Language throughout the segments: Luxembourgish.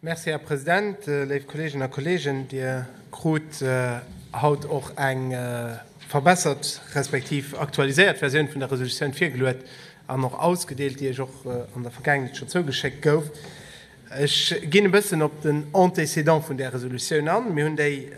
Merci, Här President. Léif Kolleeginnen a Kolleegen, Dir krut haut och eng verbessert respektiv aktualiséiert Versioun vun der Resolutioun virgeluet an och ausgedeelt, déi Iech och an der Vergaangenheet schonn zougeschéckt gouf. Ech ginn e bëssen op den Antécédent vun där Resolutioun an. Mir hunn déi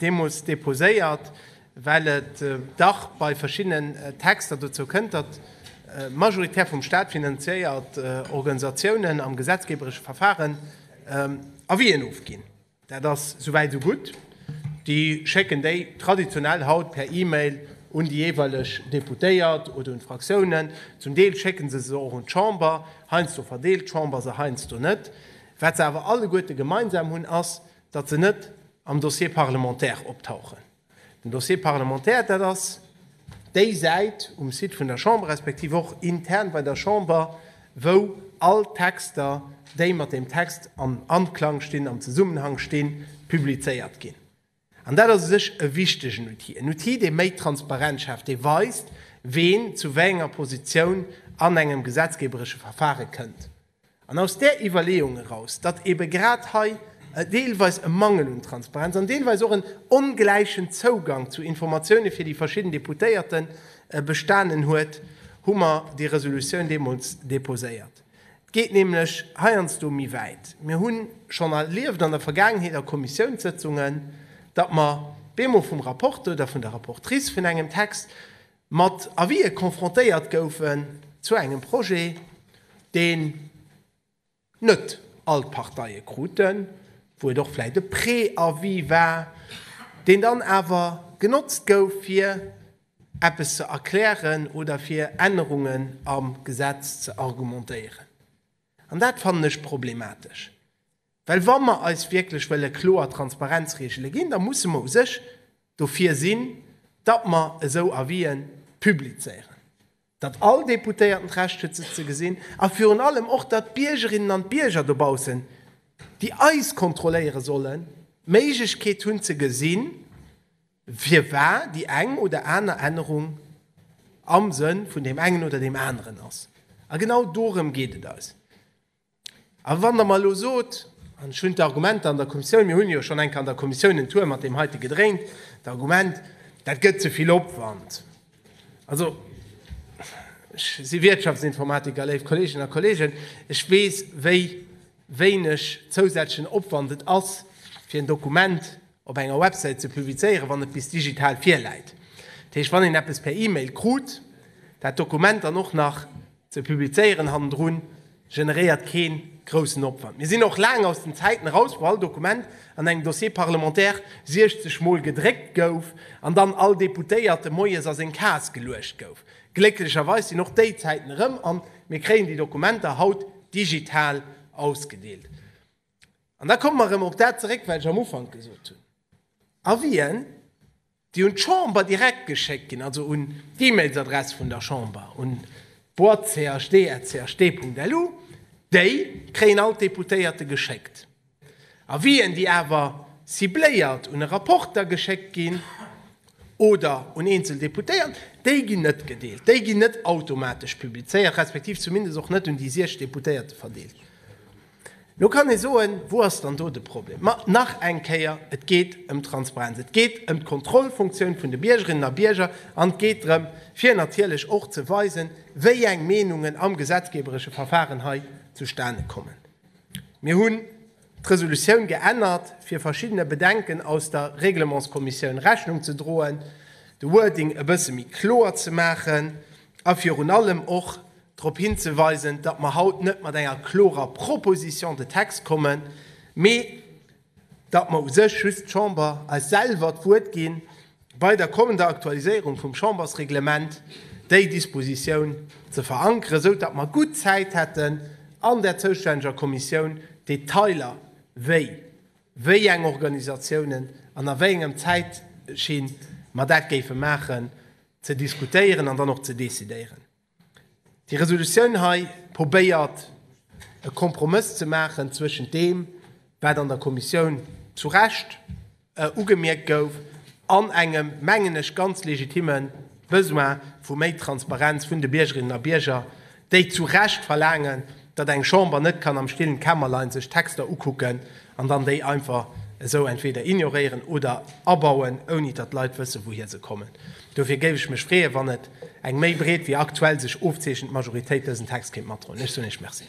deemools deposéiert, well et dach bei verschiddenen Texter dozou kënnt, datt majoritär vum Staat finanziéiert Organisatiounen am gesetzgeberesche Verfaren Avis'en ofginn. Dat ass souwäit esou gutt, déi schécken déi traditionell haut per E-Mail un déi jeeweileg Deputéiert oder un d'Fraktiounen. Zum Deel schécke se se och un d'Chamber, heiansdo verdeelt d'Chamber se, heiansdo net. Wat se awer alleguerte gemeinsam hunn, ass, datt se net am Dossier parlementaire optauchen, den Dossier parlementaire, dat ass déi Säit um Site vun der Chamber, respektiv och intern bei der Chamber, wou all d'Texter, déi mat deem Text am Anklang stinn, am Zesummenhang stinn, publizéiert ginn. An dat ass u sech e wichtegen Outil, en Outil, dee méi Transparenz schaaft, dee weist, ween zu wéi enger Positioun an engem gesetzgeeberesche Verfare kënnt. An aus där Iwwerleeung eraus, datt eebe grad hei deelweis e Mangel un Transparenz an deelweis och en ongläichen Zougang zu Informatioune fir déi verschidden Deputéierte bestanen huet, hu mer déi Resolutioun deemools deposéiert. Et geet nämlech heiansdo méi wäit. Mir hu schonn erlieft an der Vergaangenheet a Kommissiounssëtzungen, datt mer beemol vum Rapporteur oder vun der Rapportrice vun engem Text mat Avisë confrontéiert goufen zu engem Projet, deen net all d'Parteie kruten, wou et och vläicht e Préavis war, deen dann awer genotzt gouf, fir eppes ze erklären oder fir Ännerungen am Gesetz ze argumentéieren. An dat fannen ech problematesch. Well wa mer eis wierklech wëlle kloer Transparenzregele ginn, da musse mer u sech dofir sinn, datt mer esou Avis'en publizéieren, datt all Deputéierten d'Recht huet se ze gesinn a virun allem och, datt d'Biergerinnen an d'Bierger dobaussen, déi eis kontrolléiere sollen, d'Méiglechkeet hunn ze gesinn, firwar déi eng oder aner Ännerung am Sënn vun deem engen oder deem aneren ass. A genau dorëm geet et eis. A wann Der mer elo sot, an ech hunn d'Argumenter an der Kommissioun, mir hunn jo schonn eng Kéier an der Kommissioun en Tour mat deem heite gedréint, d'Argument, dat gëtt ze vill Opwand. Also, ech si Wirtschaftsinformatiker, léif Kolleeginnen a Kolleegen, ech weess, wéi wéineg zousätzlechen Opwand et ass, fir en Dokument op enger Websäit ze publizéieren, wann et bis digital virläit. Dat heescht, wann een eppes per E-Mail krut, dat Dokument dann och nach Ze publizéieren hannendrun generéiert kee groussen Opwand. Mir sinn och laang aus den Zäiten eraus, wou all Dokument an engem Dossier parlementaire 60 Mol gedréckt gouf an dann all Deputéierte moies a seng Kaass geluecht gouf. Glécklecherweis sinn och déi Zäiten erëm an mir kréien déi Dokumenter haut digital ausgedeelt. An da komme mer erëm op dat zeréck, wat ech am Ufank gesot hunn. A wien déi un d'Chamber direkt geschéckt ginn, also un d'E-Mails-Adress vun der Chamber, un board.chd@chd.lu, déi kréien all d'Deputéierte geschéckt. Avisen, déi awer cibléiert un e Rapporter geschéckt ginn oder un eenzel Deputéiert, déi ginn net gedeelt, déi ginn net automatesch publizéiert, respektiv zumindest och net un déi 6 Deputéierte verdeelt. Lo kann ee soen, Wou ass dann do de Problem? Ma nach eng Kéier, Et geet ëm d'Transparenz, et geet ëm d'Kontrollfunktioun vun de Biergerinnen a Bierger an et geet drëm, fir natierlech och ze weisen, wéi eng Meenungen am gesetzgeberesche Verfahren hei zustane kommen. Mir hunn d'Resolutioun geännert, fir verschiddene Bedenken aus der Reglementskommissioun Rechnung ze droen, de Wording e bësse méi kloer ze maachen a virun allem och, drop hinzeweisen, datt mer haut net mat enger klorer Proposition de texte kommen, mee datt mer u sech just d'Chamber eis selwer d'Wuert gi bei der kommender Aktualiséierung vum Chambersreglement, déi Dispositioun ze verankeren, esou datt mer gutt Zäit hätten, an där zoustänneger Kommissioun d'Detailer, wéi wéi eng Organisatiounen an a wéi engem Zäitschinn mer dat géife maachen, ze diskutéieren an dann och ze decidéieren. Déi Resolutioun hei probéiert e Kompromëss ze maachen zwëschent deem, wat an der Kommissioun zu Recht ugemierkt gouf, an engem, mengen ech, ganz legitime Besoin vu méi Transparenz vun de Biergerinnen a Bierger, déi zu Recht verlaangen, datt eng Chamber net kann am stillen Kämmerlein sech d'Texter ukucken an dann déi einfach esou entweder ignoréieren oder abauen, ouni datt d'Leit wëssen, wouhir se kommen. Dofir géif ech mech freeën, wann et eng méi breet wéi aktuell sech ofzeechent Majoritéit dësen Text kéint matdroen. Ech soen Iech Merci.